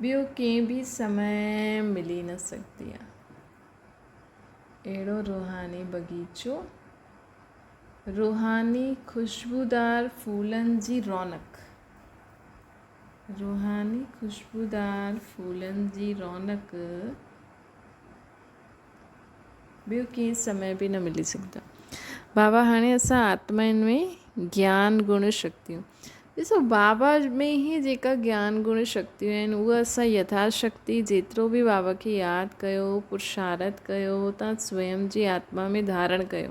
ٻيو ڪنهن به سمي ملي نه سگهندي آ اهڙو روحاني بغيچو، روحاني خوشبودار ڦولن جي رونق، روحاني خوشبودار ڦولن جي رونق. ٻيو ڪيئن سمي به نه ملي سگهندا. بابا هاڻي اسان آتمائن ۾ گيان گڻ شڪتيون ڏسو بابا ۾ هي جيڪا گيان گڻ شڪتيون آهن اها اسان يٿا شڪتي جيترو به بابا کي ياد ڪيو پرشارت ڪيو تان سويم جي آتما ۾ ڌارڻ ڪيو.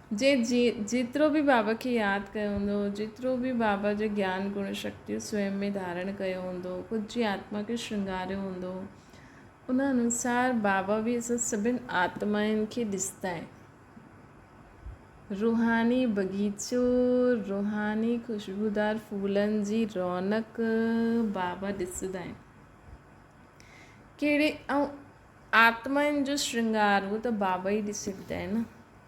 جي جيترو به بابا کي ياد ڪيو هوندو، جيترو به بابا جي گيان گڻ شڪتيون سوين ۾ ڌارڻ ڪيو هوندو، خود جي آتما کي شرنگاريو هوندو، ان انوسار بابا به اسان سڀن آتمائن کي ڏستائين. روحاني بغيچو، روحاني خوشبودار ڦولن جي رونق بابا ڏسندائين. ڪهڙي ائون آتمائن جو شرنگار اهو ته بابا ئي ڏسي ڏيندائين نه.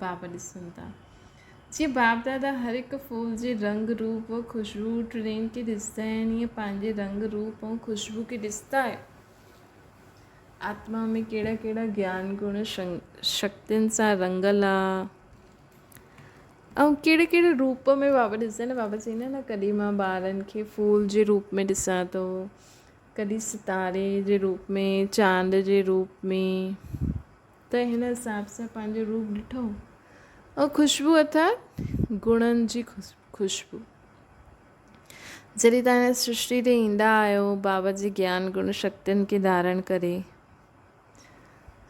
باب ڏسن ٿا جيئن باب دادا هر هڪ ڦول جي رنگ روپ و خوشبو ٽڻين کي ڏسندا آهن ايئن پنهنجي رنگ روپ ۽ خوشبو کي ڏسندا آهيو آتما ۾ ڪهڙا ڪهڙا گيان گڻ شڪتين سان رنگل آ ۽ ڪهڙي ڪهڙي روپ ۾ بابا ڏسندا آهن بابا چئين نه نه ڪڏهن مان ٻارن کي ڦول جي روپ ۾ ڏسان ٿو ڪڏهن ستاري جي روپ ۾ چانڊ جي روپ ۾ ته هن حساب سان پنهنجو روپ ڏٺو ۽ خوشبو اٿار گڻن جي خوشبو جڏهن تان هن سرشتي تي ايندا آهيو بابا جي گيان گڻ شڪتين کي ڌارڻ ڪري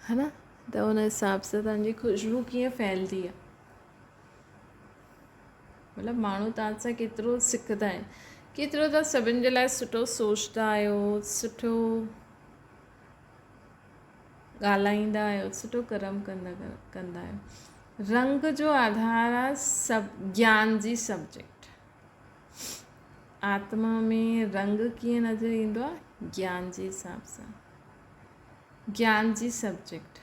ها نه ته ان حساب سان تان جي خوشبو ڪيئن ڦهلدي آهي مطلب ماڻهو تان سان ڪيترو سکدا آهن ڪيترو تان سڀن جي لاء سٺو سوچدا آهيو سٺو ڳالهائيندا آهيو سٺو ڪرم ڪندا ڪندا آهيو رنگ جو آڌار آ سب جان جي سبجيڪٽ آتما ۾ رنگ ڪيئن نظر ايندو آ جان جي حساب سان جان جي سبجيڪٽ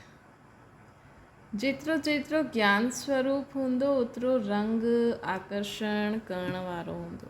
جيترو جيترو جان سوروپ هوندو اوترو رنگ آڪرشڻ ڪرڻ وارو هوندو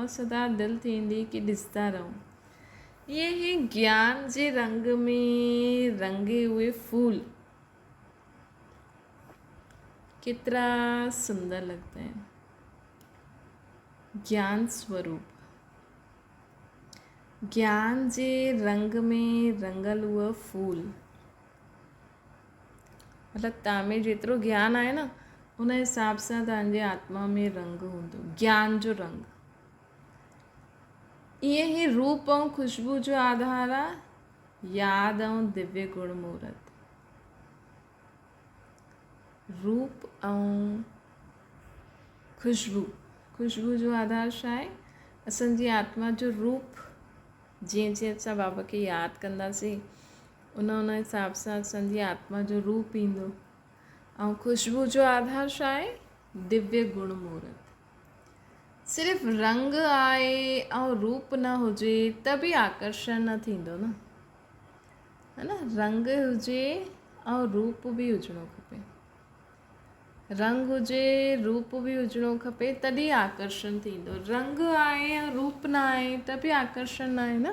۽ سدا دل ٿيندي ڪي ڏسندا رهون ائين هي گيان جي رنگ ۾ رنگي اهي ڦول ڪيترا سندر لڳندا آهن گيان سوروپ گيان جي رنگ ۾ رنگل اهي ڦول مطلب تنهن ۾ جيترو گيان آهي نه ان حساب سان تنهن جي آتما ۾ رنگ هوندو گيان جو رنگ ائين هي روپ ۽ خوشبو جو آڌار آ ياد ۽ ديوي گڻ مورت روپ ۽ خوشبو خوشبو جو آڌار شا آهي اسان جي آتما جو روپ جيئن جيئن اسان بابا کي ياد ڪنداسين ان ان حساب سان اسانجي آتما جو روپ ايندو ۽ خوشبو جو آڌار شا آهي ديوي گڻ مورت صرف رنگ آهي ۽ روپ نه هجي ته به آڪرشن نه ٿيندو نه ها نه رنگ هجي ۽ روپ به هجڻو کپي رنگ هجي روپ به هجڻو کپي تڏي آڪرشن ٿيندو رنگ آهي ۽ روپ نه آهي ته به آڪرشن نه آهي نه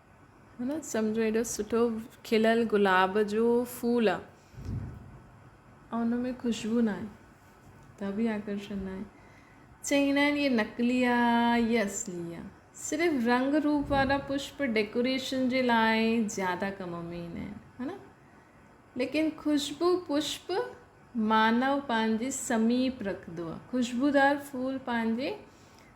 هن سمجهو ايڏو سٺو کليل گلاب جو ڦول آ ۽ ان ۾ خوشبو نه آهي ته به آڪرشن نه آهي چئي نه آهن هي نقلي آ هي اصلي آ صرف رنگ روپ وارا پشپ ڊيڪوريشن جي لاء زياده ڪم ۾ ايندا آهن ها نه ليڪن خوشبو پشپ مانو پنهنجي سميپ رکندو آ خوشبودار ڦول پنهنجي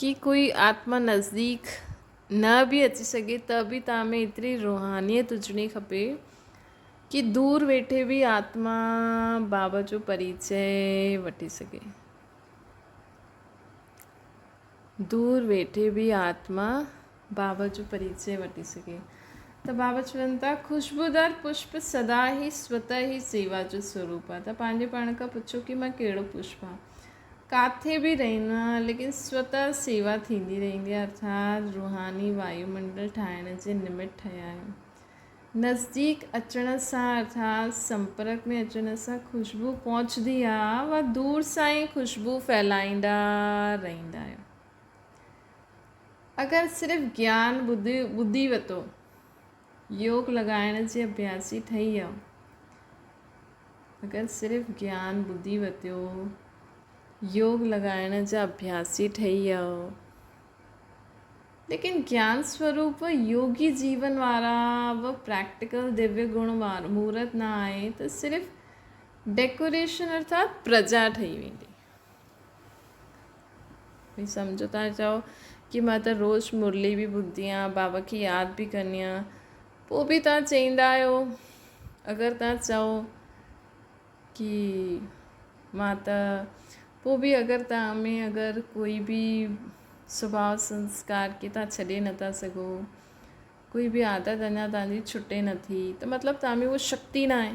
ڪي ڪوئي آتما نزديڪ نه به اچي سگهي ته به توهان ۾ ايتري روحانيت هجڻي کپي ڪي دور ويٺي به آتما بابا جو پريچي وٺي سگهي دور ويٺي به آتما بابا جو پريچي وٺي سگهي ته بابا چون ٿا خوشبودار پشپ سدا هي سوت هي سيوا جو سوروپ آهي ته پنهنجي پاڻ کان پڇو ڪي مان ڪهڙو پشپ آهي ڪاٿي به رهندو آهي ليڪن سوتئ سيوا ٿيندي رهندي آهي ارٿات روحاني وايو منڊل ٺاهڻ جي نمٽ ٺهيا آهيون نزديڪ اچڻ سان ارٿات سمپرڪ ۾ اچڻ سان خوشبو پهچندي آهي و دور سان ئي خوشبو ڦهلائيندا رهندا آهيون اگر صرف گيان ٻڌي ٻڌي وتو يوگ لڳائڻ جي اڀياسي ٺهي آ اگر صرف گيان ٻڌي وتيو يوگ لڳائڻ جا اڀياسي ٺهي آ ليڪن گيان سوروپ يوگي جيون وارا و پريڪٽيڪل ديوي گڻ مورت نه آهي ته صرف ڊيڪوريشن ارٿات پرجا ٺهي ويندي ڀي سمجهو ٿا چئو ڪي مان ته روز مرلي به ٻڌدي آهيان بابا کي ياد به ڪندي آهيان پوء به تان چئيندا آهيو اگر تان چئو ڪي مان ته پوء به اگر تان ۾ اگر ڪوئي به سڀاء سنسڪار کي تان ڇڏي نٿا سگهو ڪوئي به عادت اڃا تان جي ڇٽي نٿي ته مطلب تان ۾ هو شڪتي ناهي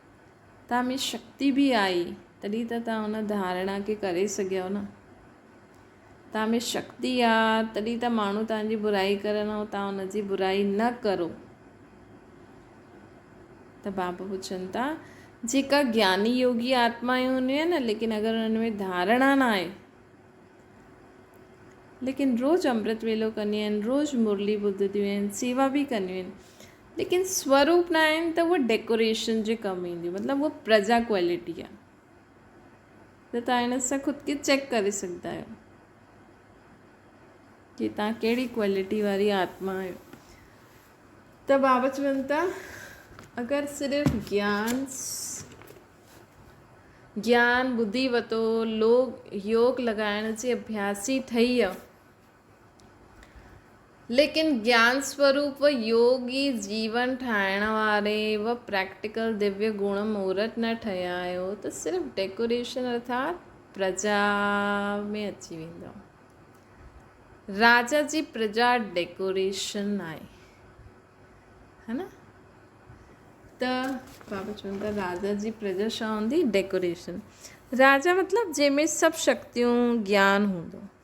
توهان ۾ شڪتي به آهي تڏهن ته توهان ان ڌارڻا کي ڪري سگهيو نه. توهان ۾ شڪتي آ تڏهن ته ماڻهو توهان جي برائي ڪرن ۽ توهان ان جي برائي نه ڪرو. ته بابا پڇن ٿا جيڪا گياني يوگي آتمايون هونديون آهن نه ليڪن اگر انهن ۾ ڌارڻا نه آهي ليڪن روز امرت ويلو ڪنديون آهن روز مرلي ٻڌديون آهن سيوا به ڪنديون آهن ليڪن سوروپ نه آهن ته هوء ڊيڪوريشن جي ڪم اينديون مطلب هوء پرزا ڪوالٽي آهي ته تان هن سان خود کي چيڪ ڪري سگهندا آهيو جي تان ڪهڙي ڪوالٽي واري آتما آهيو ته بابا چون ته اگر صرف گيان گيان ٻڌي وتو لوگ يوگ لڳائڻ جي اڀياسي ٺهي ليڪن گيان سوروپ و يوگ ئي جيون ٺاهڻ واري و پريڪٽيڪل ديويو گڻ مورت نه ٺهيائو ته صرف ڊيڪوريشن ارٿات پرجا ۾ اچي ويندو. راجا جي پرجا ڊيڪوريشن آهي. ها نه؟ ته بابا چون ٿا راجا جي پرجا شا هوندي ڊيڪوريشن. راجا مطلب جنهن ۾ سڀ شڪتيون گيان هوندو.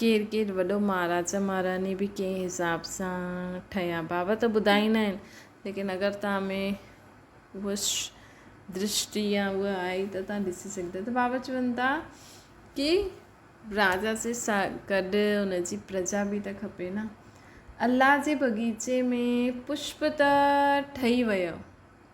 ڪير ڪير وڏو مهاراجا مهاراڻي به ڪنهن حساب سان ٺهيا بابا ته ٻڌائيندا آهن ليڪن اگر تان ۾ هو درشٽي يا هو آئي ته تان ڏسي سگهندا ته بابا چون ٿا ڪي راجا سي سا گڏ ان جي پرجا به ته کپي نا الله جي بغيچي ۾ پشپ ته ٺهي ويو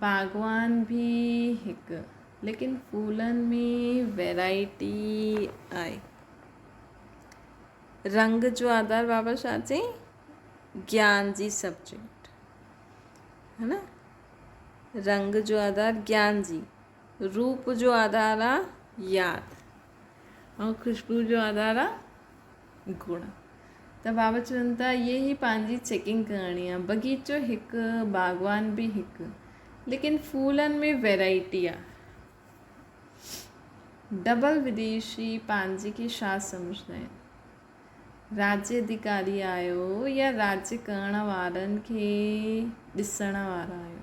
باغوان به هڪ ليڪن ڦولن ۾ ويرائٽي آهي رنگ جو آڌار بابا شاھ چي جيان جي سبجيڪٽ ها نه رنگ جو آڌار جيان جي روپ جو آڌار آ ياد ۽ خوشبو جو آڌار آ گڻ ته بابا چون ٿا يي هي پنهنجي چيڪنگ ڪرڻي آ بغيچو هڪ باغوان به هڪ ليڪن ڦولن ۾ ويرائٽي آ ڊبل وديشي پنهنجي کي شا سمجهندا آهن راجي ادهيڪاري آهيو يا راجي ڪرڻ وارن کي ڏسڻ وارا آهيو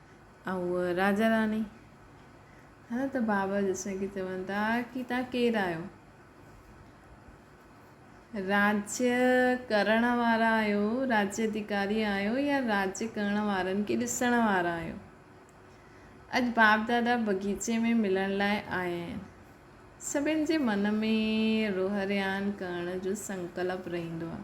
۽ هوء راجا راڻي. هن ته بابا جسن کي چون ٿا ڪي تان ڪير آهيو؟ راجيء ڪرڻ وارا آهيو، راجي اديڪاري آهيو يا راجي ڪرڻ وارن کي ڏسڻ وارا آهيو؟ اڄ باپ دادا بغيچي ۾ ملڻ لاء آيا آهن. سڀن جي من ۾ روهريان ڪرڻ جو سنڪلپ رهندو آهي.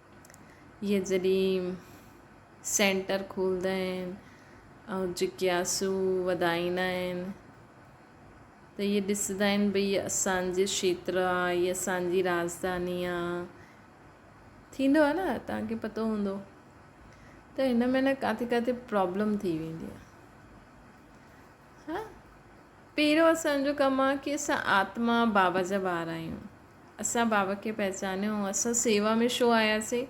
اهي جڏهن سينٽر کولندا آهن ۽ جڪياسو وڌائيندا آهن ته اهي ڏسندا آهن ڀئي هي اسان جي کيتر آ هي اسان جي راجڌاني آ ٿيندو آ نه تهان کي پتو هوندو ته هن ۾ نه ڪاٿي ڪاٿي پرابلم ٿي ويندي آ ها پيرو اسان جو ڪم آ ڪي اسان آتما بابا جا ٻار آهيون اسان بابا کي پهچانيو ۽ اسان سيوا ۾ شو آيا سي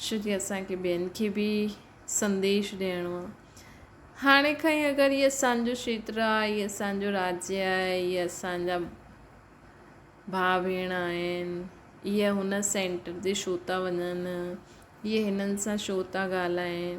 شو جي اسان کي ٻين کي به سنديش ڏيڻو آ هاڻي کان ئي اگر هي اسان جو شيتر آ هي اسان جو راجي آ هي اسان جا ڀاء ڀيڻ آهن هي هن سينٽر تي شو ٿا وڃن هي هنن سان شو ٿا ڳالهائين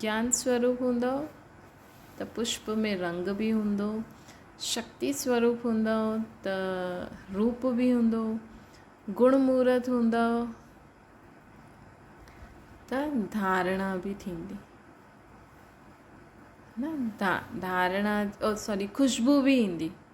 جان سوروپ هوندؤ ته پشپ ۾ رنگ به هوندو، شڪتي سوروپ هوندؤ ته روپ به هوندو، گڻ مورت هوندؤ ته ڌارڻا به ٿيندي. نه ڌارڻا سوري خوشبو به ايندي.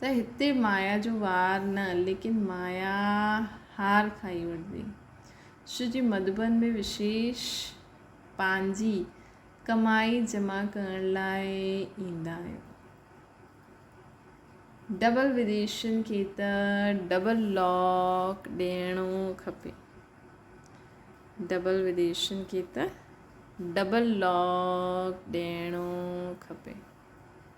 ته هتي مايا جو وار نه ليڪن مايا هار کائي وٺبي. شو جي مڌوبن ۾ وشيش پنهنجي ڪمائي جمع ڪرڻ لاء ايندا آهن. ڊبل وديشين کي ته ڊبل لاڪ ڏيڻو کپي. ڊبل وديشين کي ته ڊبل لاڪ ڏيڻو کپي.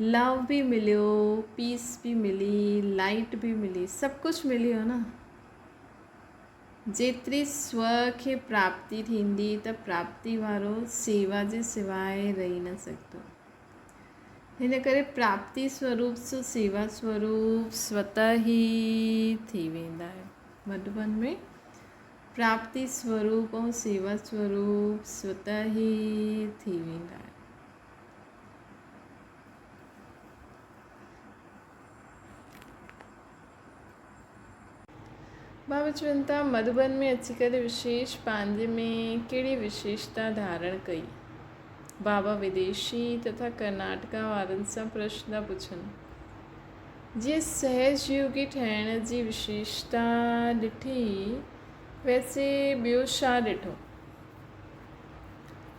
لو به مليو پيس به ملي لائٽ به ملي سڀ ڪجھ ملي ويو نه جيتري سو کي پراپتي ٿيندي ته پراپتي وارو سيوا جي سواء رهي نه سگھندو هن ڪري پراپتي سوروپ سو سيوا سوروپ سوت هي ٿي ويندا آهن مڌبن ۾ پراپتي سوروپ ۽ سيوا سوروپ سوت هي ٿي ويندا آهن ڀاوي چون ٿا مڌوبن ۾ اچي ڪري وشيش پنهنجي ۾ ڪهڙي وشيشتا ڌارڻ ڪئي؟ بابا وديشي تٿا ڪرناٽڪا وارن سان پرشن ٿا پڇن. جي سهج يوگي ٺهڻ جي وشيشتا ڏٺي ويسي ٻيو شا ڏٺو؟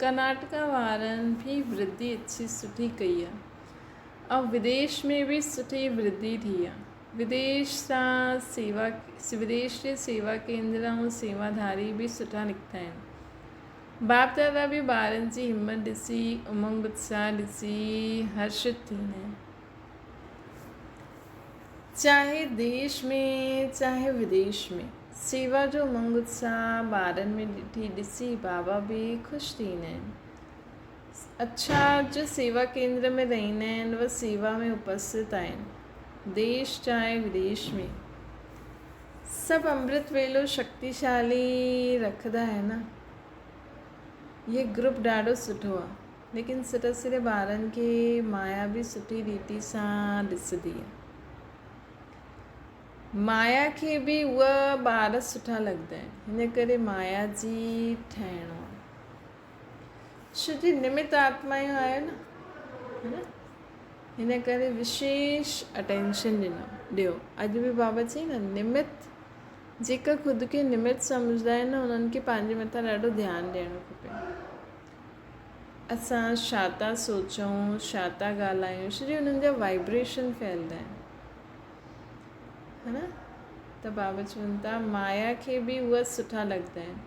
ڪرناٽڪا وارن ڀي وڌي اچي سٺي ڪئي آ ۽ وديش ۾ بي سٺي وڌي ٿي آ وديش سان سيوا وديش جي سيوا ڪيندڙ ۽ سيوا ڌاري بي سٺا نڪتا آهن باپ دادا بي ٻارن جي همت ڏسي امنگ اتساھ ڏسي هرشت ٿيندا آهن چاهي ديش ۾ چاهي وديش ۾ سيوا جو منگ اتساهه ٻارن ۾ ڏٺي ڏسي بابا به خوش ٿيندا آهن. اڇا اڄ سيوا ڪيندر ۾ رهندا آهن و سيوا ۾ اپسٿت آهن. ديش چاهي وديش ۾ سڀ امرت ويلو شڪتيشالي رکدا آهن. هي گروپ ڏاڍو سٺو آهي. ليڪن سري سري ٻارن کي مايا به سٺي ريتي سان ڏسندي هئي. مايا کي به اهي ٻار سٺا لڳندا آهن. هن ڪري مايا جي ٺهڻو آهي. ڇو جو نمت آتمايون آهيو نه ها نه هن ڪري وشيش اٽينشن ڏنو ڏيو اڄ به بابا چي نه نمت جيڪا خود کي نمت سمجهندا آهن انهن کي پنهنجي مٿان ڏاڍو ڌيان ڏيڻو کپي اسان ڇا ٿا سوچون، ڇا ٿا ڳالهايون سڄي انهن جا وائبريشن ڦهلدا آهن. ها نه؟ ته بابا چون ٿا مايا کي به اها سٺا لڳندا آهن.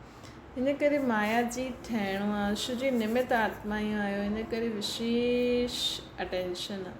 ان ڪري مايا جي ٺهڻو آهي شو جي نمت آتما اهو آهيو ان ڪري وشيش اٽينشن آهي.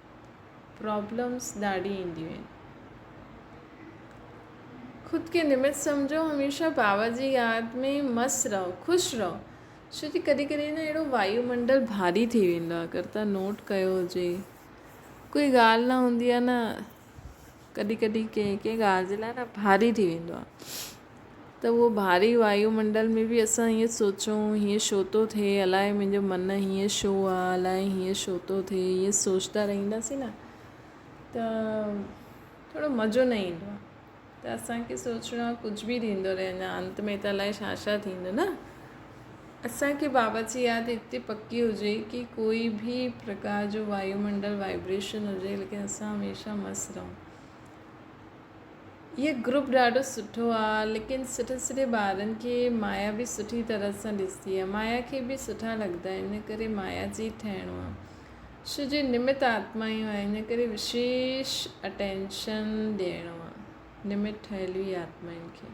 پرابلمس ڏاڍي اينديون آهن. خود کي نمت سمجهو هميشه پاور جي ياد ۾ مست رهو خوش رهو ڇو جي ڪڏهن ڪڏهن نه اهڙو وايو منڊل ڀاري ٿي ويندو آهي اگر تون نوٽ ڪيو هجي ڪوئي ڳالهه نه هوندي آهي نه ڪڏهن ڪڏهن ڪنهن ڪنهن ڳالهه جي لاء نه ڀاري ٿي ويندو آهي ته اهو ڀاري وايو منڊل ۾ به اسان ائين سوچون هيئن شو ٿو ٿئي الاء منهنجو من هيئن شو آ الاء هيئن شو ٿو ٿئي ائين سوچندا رهنداسين نه ته ٿورو مزو نه ايندو آهي ته اسانکي سوچڻو آهي ڪجهه به ٿيندو رهي اڃا انت ۾ ته الاء ڇا ڇا ٿيندو نه اسان کي باورچي آهي ته هتي پڪي هجي ڪي ڪوئي ڀي پرڪار جو وايو منڊل وائبريشن هجي ليڪن اسان هميشه مست رهون هي گروپ ڏاڍو سٺو آ ليڪن سٺي سٺي ٻارن کي مايا به سٺي طرح سان ڏسندي آ مايا کي به سٺا لڳندا آهن ان ڪري مايا جي ٺهڻو آ شو جي نمت آتمايون آهن ان ڪري وشيش اٽينشن ڏيڻو آ نمت ٺهيل وي آتمائن کي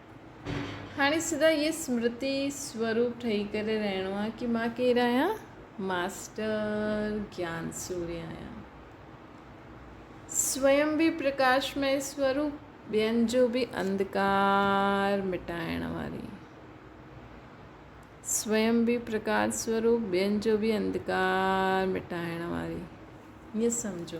هاڻي سدا هيء اسمرتي سوروپ ٺهي ڪري رهڻو آهي ڪي مان ڪير آهيان؟ ماسٽر گيان سوري آهيان. سويم به پرڪاشمئي سوروپ، ٻين جو به انڌڪار مٽائڻ واري. سويم به پرڪاش سوروپ، ٻين جو به انڌڪار مٽائڻ واري. هيئن سمجهو.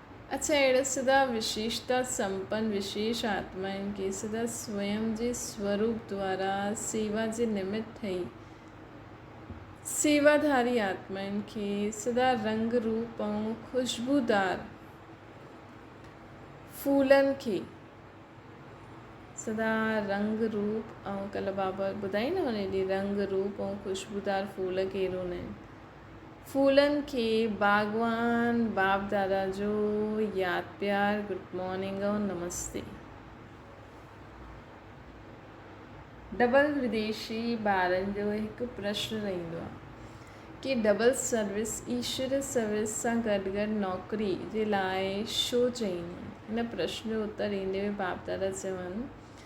اڇا اهڙي سدا وشيشتا سمپن وشيش آتمائن کي سدا سوئم جي سوروپ دوارا سيوا جي نمت ٺهي سيوا ڌاري آتمائن کي سدا رنگ روپ ۽ خوشبودار ڦولن کي سدا رنگ روپ ۽ ڪلهه بابا ٻڌائي نه هن ڏي رنگ روپ ۽ خوشبودار ڦول ڪيرون آهن ڦولن کي باغوان باپ دادا جو ياد پيار گڊ مارننگ ۽ نمستي. ڊبل وديشي ٻارن جو هڪ پرشن رهندو آهي ڪي ڊبل سروس ايشور سروس سان گڏ گڏ نوڪري جي لاء شو چئين ٿا ان پرشن جو اتر ڏيندي هوئي باپ دادا چون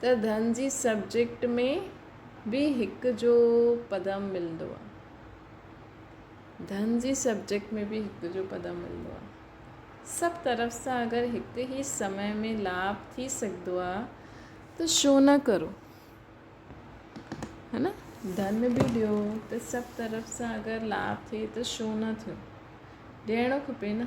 ته ڌن جي سبجيڪٽ ۾ به هڪ جو پدم ملندو آ ڌن جي سبجيڪٽ ۾ به هڪ جو پدم ملندو آ سڀ طرف سان اگر هڪ ئي سمي ۾ لاڀ ٿي سگهندو آ ته شو نه ڪرو هن ڌن به ڏيو ته سڀ طرف سان اگر لاڀ ٿئي ته شو نه ٿيو ڏيڻو کپي نه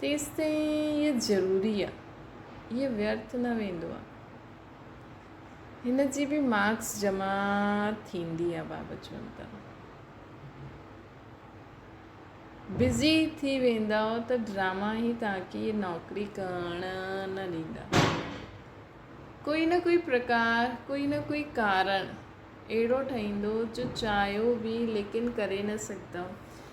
تيستائين هيء ضروري آ. هيء ويرٿ نه ويندو آ. هن جي به مارڪس جمع ٿيندي آ بابا چون ته. بزي ٿي ويندؤ ته ڊراما هي توهانکي نوڪري ڪرڻ نه ڏيندا. ڪوئي نه ڪوئي پرڪار، ڪوئي نه ڪوئي ڪارڻ اهڙو ٺهيندو جو چاهيو به ليڪن ڪري نه سگهندؤ.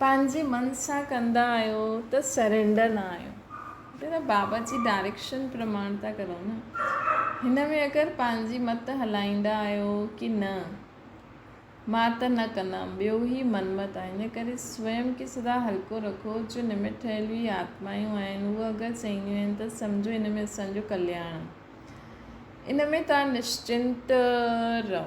پنهنجي من سان ڪندا آهيو ته سرينڊر نه آهيو هتي ته بابا جي ڊائريڪشن پرماڻ ٿا ڪرو نه هن ۾ اگر پنهنجي مت هلائيندا آهيو ڪي نه مان ته نه ڪندم ٻيو هي منمت آهي ان ڪري سوئم کي سدا هلڪو رکو جو نمٽ ٺهيل هي آتمايون آهن هو اگر چئينديون آهن ته سمجهو ان ۾ اسان جو ڪلياڻ آهي ان ۾ توهان نشچنت رهو.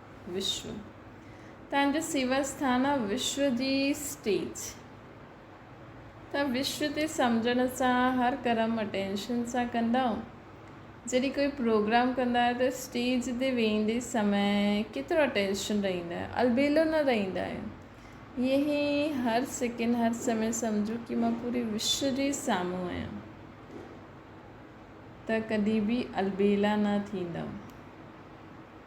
وشو تان جو سيور ستان آ وشو جي اسٽيج تان وشو تي سمجھڻ سان هر ڪرم اٽينشن سان ڪندا آهو جڏي ڪوئي پروگرام ڪندا آهيو ته اسٽيج تي ويندي سمي ڪيترو اٽينشن رهيندا آهيو البيلو نه رهيندا آهيو يه هي هر سيڪنڊ هر سمي سمجھو ڪي مان پوري وشو جي سامو آهيان ته ڪدي به البيلا نه ٿيندم